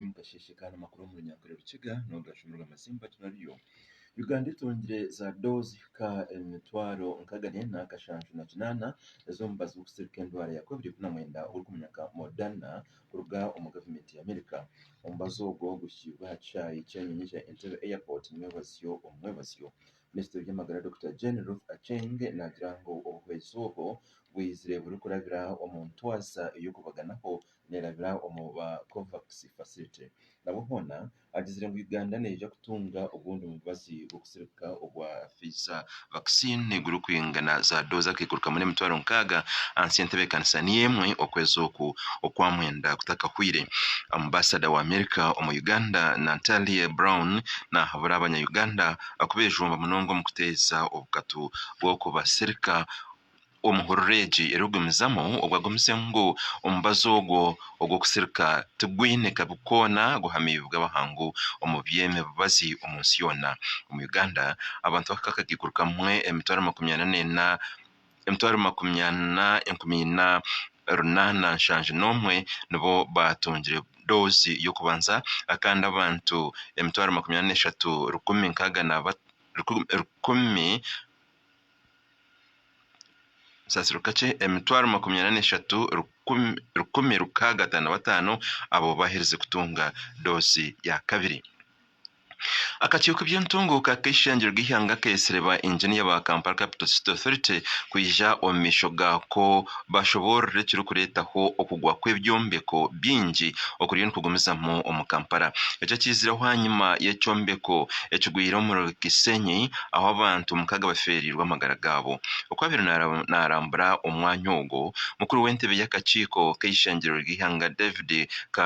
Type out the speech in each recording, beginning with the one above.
omu kasheeshe ka namakuru omu runyankore rukiga nogashuumirwa amazimba ati nabyo Uganda etungire za doozi ka emitwaro nkaaga neena kashanju na kinaana ez'omubazi gw'okusirika endwara ya covid ikumi na mwenda ogurikumenyeka Moderna kuruga omu gavumenti ya America omubazi ogwo guhikiibwe aha kishaayi ky'enyonyi kya Entebbe airport omumwebazyo omumwebazyo minisitiri w'ebyamagara Dokita Jane Ruth Aceng naagira ngu obuhwezi obwo bwaizire burikurabira omu ntwaza ey'okubaganaho neerabira omu ba Covax Facility nabwo hoona agizire ngu Uganda neija kutunga obundi mubazi gw'okutsirika obwa Pfizer vaccine gurikwingana za doozi akaikuru kamwe n'emitwaro nkaaga ahansi y'entebeekanisa niyo emwe okwezi oku okwa mwenda kutakahweire. Ambasada wa America omu Uganda Nantalie Brown nahabura abanya Uganda kubeejumba munonga omu kuteeza obukatu bw'okubatsirika omu hurura egi erikugumizamu obu agumize ngu omubazi ogwo ogw'okusirika tigwine kabi koona guhamiibwe abahangu omu by'emibazi omu nsi yoona. Omu Uganda, abantu abahika akakaikuru kamwe emitwaro makumi ana neena emitwaro makumi ana enkumi ina runaana nshanju n'omwe nibo baatungire doozi y'okubanza kandi abantu emitwaro makumi ana n'eshatu rukumi nkaaga na rukumi Kasasiro kakye emitwaro makumi ana n'eshatu rukumi rukaaga ataano bataano abo baaherize kutunga doozi ya kabiri. Akakiiko k'eby'entunguuka k'eishengero ry'eihanga keetsire ba inginiya ba Kampala Capital City Authority kwija omu maisho gaako bashoboorora ekirikureetaho okugwa kw'ebyombeko bingi okuriyo nikugumizamu omu Kampala. Eki ekiizireho aha nyima y'ekyombeko ekigwire omuri Kisenyi ahu abantu mukaaga bafeereirwe amagara gaabo. Okwabaire naarambura omwanya ogwo, mukuru w'entebe y'akakiiko k'eishengyerero ry'eihanga David Ka,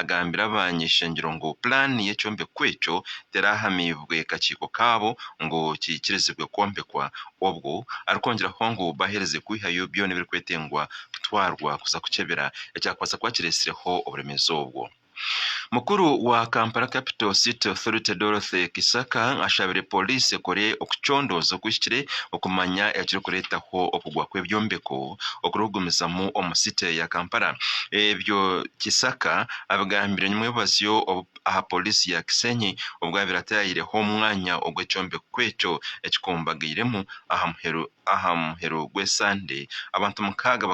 agambira abanyeshengero ngu pulaani y'ekyombeko ekyo teraahamiibwe kakiiko kaabo ngu kiikirizibwe kwombekwa. Obwo arikwongyeraho ngu baaheerize kwihayo byona ebirikwetengywa kutwarwa kuza kukyebera ekyakubaasa kuba kireetsireho oburemeezi obwo. Mukuru wa Kampala Capital City Authority Dorothy Kisaka ashabire Pooriisi ekore okucondooza okuhikire okumanya ekirikureetaho okugwa kw'ebyombeko okurikugumizamu omu City ya Kampala ebyo Kisaka abigambire nyimwebazyo aha Poliisi ya Kisenyi obwo yaabaire ataahireho omwanya ogu ekyombeko ekyo ekikumbagairemu aha muheru gw'esande abantu mukaaga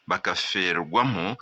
bakafeerwamu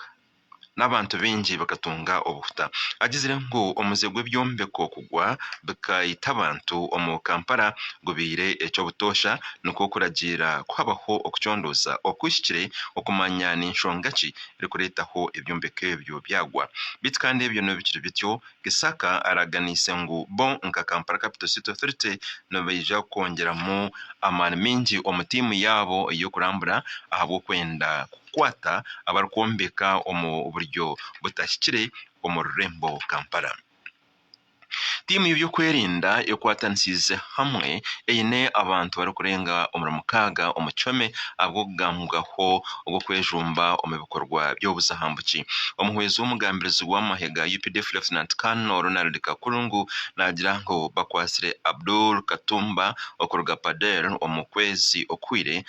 n'abantu baingi bakatunga obuhuta. Agizire ngu omuze gw'ebyombeko kugwa bikaita abantu omu Kampala gubaire eky'obutoosha nikwo kuragiira kuhabaho okucondooza okuhikire okumanya n'enshonga ki erikureetaho ebyombeko ebyo byagwa. Beitu kandi ebyo n'obu bikiri bityo, Gisaka araganiise ngu bo nka Kampala Capital City Authority nibaija kwongyeramu amaani maingi omu tiimu yaabo ey'okurambura ahabw'okwenda kukwata abarikwombeka omu buryo butahikire omu rurembo Kampala. Tiimu y'ebyokwerinda ekwatanisiize hamwe eine abantu barikurenga omuri mukaaga omu kihome ahabw'okugambwaho ogw'okwejumba omu bikorwa by'obuzahambuki. Omuhwezi w'omugambirizi w'amahe ga updf Lieutenant Colonel Ronald Kakurungu naagira ngu bakwatsire Abdul Katumba okuruga Pader omu kwezi okuhwire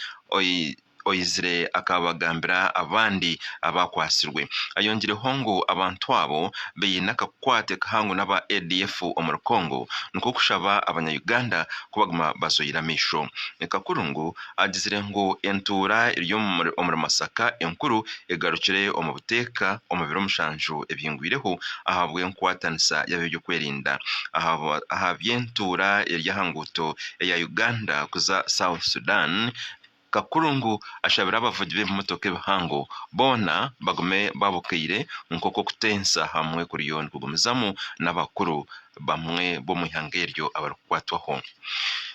oizire akabagambira abandi abaakwatsirwe. Ayongireho ngu abantu abo baine akakwate kahango n'aba ADF omuri Congo nikwo kushaba abanya Uganda kubaguma bazoire amaisho. Kakurungu Agizire ngu entuura eri omuri Masaka enkuru egarukire omu buteeka omu biro mushanju ebyingwireho ahabw'enkwatanisa y'ab'ebyokwerinda aha by'entuura eri aha nguuto eya Uganda kuza South Sudan. Kakuru ngu ashabire abavugi b'ebimotoka ebihango boona bagume babukaire nk'oku okutensa hamwe kuriyo nikugumizamu n'abakuru bamwe b'omu ihanga eryo abarikukwatwaho.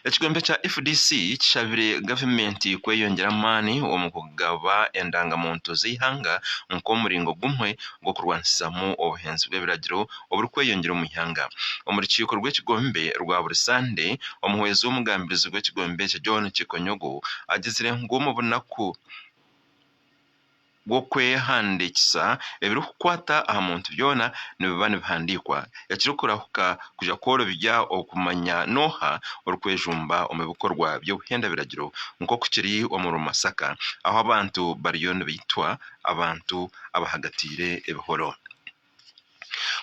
Ekigombe kya fdc kishabire gavumenti kweyongyera amaani omu kugaba endangamuntu z'eihanga nk'omuringo gumwe gw'okurwanisizamu obuhenzi bw'ebiragiro oburikweyongyera omu ihanga. Omu rukiiko rw'ekigombe rwa buri sande, omuhwezi w'omugambirizi gw'ekigombe ekyo John Kikonyogo agizire ngu omu bunaku, gw'okwehandiikisa, ebirikukwata aha muntu byona nibiba nibihandiikwa. Ekirikurahuka kuza kworobya okumanya n'oha orikwejumba omu bikorwa by'obuhenda biragiro nk'oku kiri omuri Masaka ahu abantu bariyo nibaitwa abantu abahagatiire ebihoro.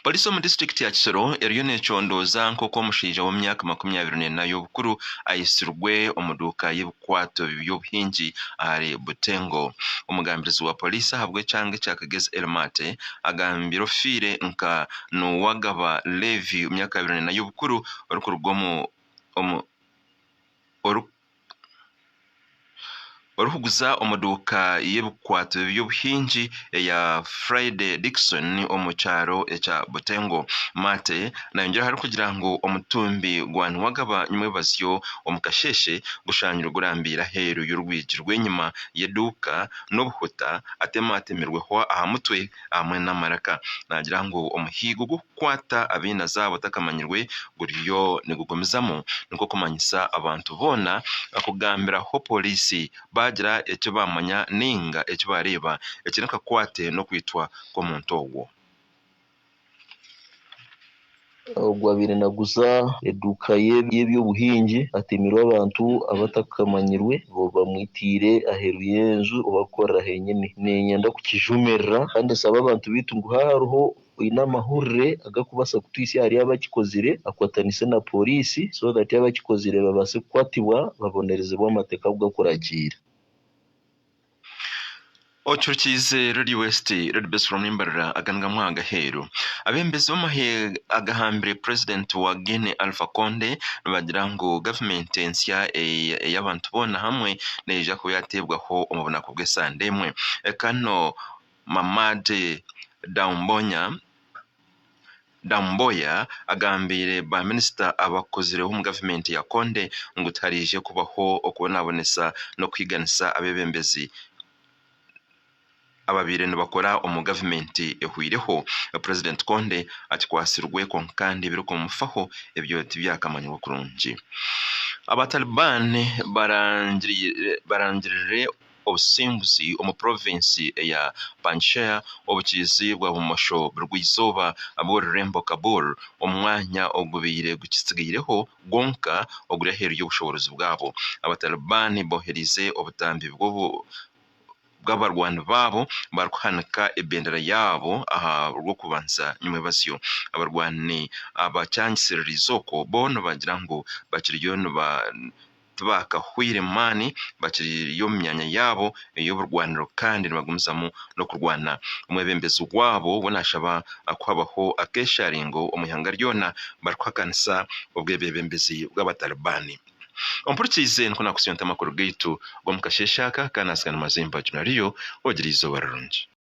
Poliisi omu disiturikiti ya Kisoro eriyo neecondooza nk'oku omushaija w'emyaka makumi abiri neena y'obukuru aitsirwe omu duuka y'ebikwato by'obuhingi ahari Butengo. Omugambirizi wa Poliisi ahabw'ekyanga ekya Kagezi Elmate agambire ofiire nka Nuwagaba Levi ow'emyaka abiri neena y'obukuru orikuruga omu Orikuguza omu duuka y'ebikwate by'obuhingi eya Friday Dickson omu kyaro ekya Butengo. Maate naayongyeraho arikugira ngu omutumbi gwa niwagaba nimwebazyo omu kasheeshe gushangirwe gurambiire aheeru y'orwigi rw'enyima y'eduuka n'obuhuta atemwatemirweho aha mutwe hamwe n'amaraka. Naagira ngu omuhigo Kukwata ab'enazaabo otakamanyirwe guriyo nigugumizamu nikwo kumanyisa abantu boona kugambiraho pooriisi baagira eki baamanya nainga eki baareeba ekiri nikakwate n'okwitwa kw'omuntu ogwo. Ogwo abaire naguza eduuka ye y'eby'obuhingi atemirwe abantu abatakamanyirwe bamwitiire aheeru y'enju obu arikukorera henyini. Niinyenda kukijumirira kandi nsaba abantu baitu ngu haaba hariho oine amahurire agakubaasa kutwitsya ahari abakikozire akwatanise na poriisi so that abakikozire babaase kukwatibwa babonerezebwe amateeka agu gakuragiira. Ocuukiize Radio West, Radio Best from Mbarara aganagamu aha gaheeru. Abembezi b'amahe agahambire purezidenti wa Guinea Alpha Conde nibagira ngu gavumenti ensya ey'abantu boona hamwe neija kuba yateebwaho omu bunaku bw'esande emwe. Kano. Mamadi Doumbouya agambiire baaminisita abakuzireho omu gavumenti ya Conde ngu tihariije kubaho okubonabonesa n'okuhiganisa abeebembezi ababaire nibakora omu gavumenti ehweireho. Purezidenti Conde akikwatsirwe kwonka kandi ebirikumufaho ebyo tibyakamanyirwe kurungi. Abataliban barangirire Obusinguzi omu provinsi eya Panjshir obukiizi bwa bumosho burw'eizooba bw'orurembo Kabul, omwanya ogubaire gukitsigaireho gwonka oguri aheeru y'obushoboorozi bwabo. Abataliban bohereize obutambi bw'abarwani baabo barikuhanika ebendera yaabo aha rw'okubanza nyimwebazyo. Abarwani abakyangisiririize okwo bo nibagira ngu bakiriyo niba. tibaakahweire maani bakiri omu myanya yaabo ey'oburwaniro kandi nibagumizamu n'okurwana. Omwebembezi waabo we naashaba kuhabaho akeesharingo omu ihanga ryona barikuhakanisa obwebebembezi bw'Abatalibaani. Ompurikiize nikwo naakutsya nte amakuru gaitu g'omu kasheeshe aka, kandi naatsigaana mazimba. Juna Leo, ogire eizooba rirungi.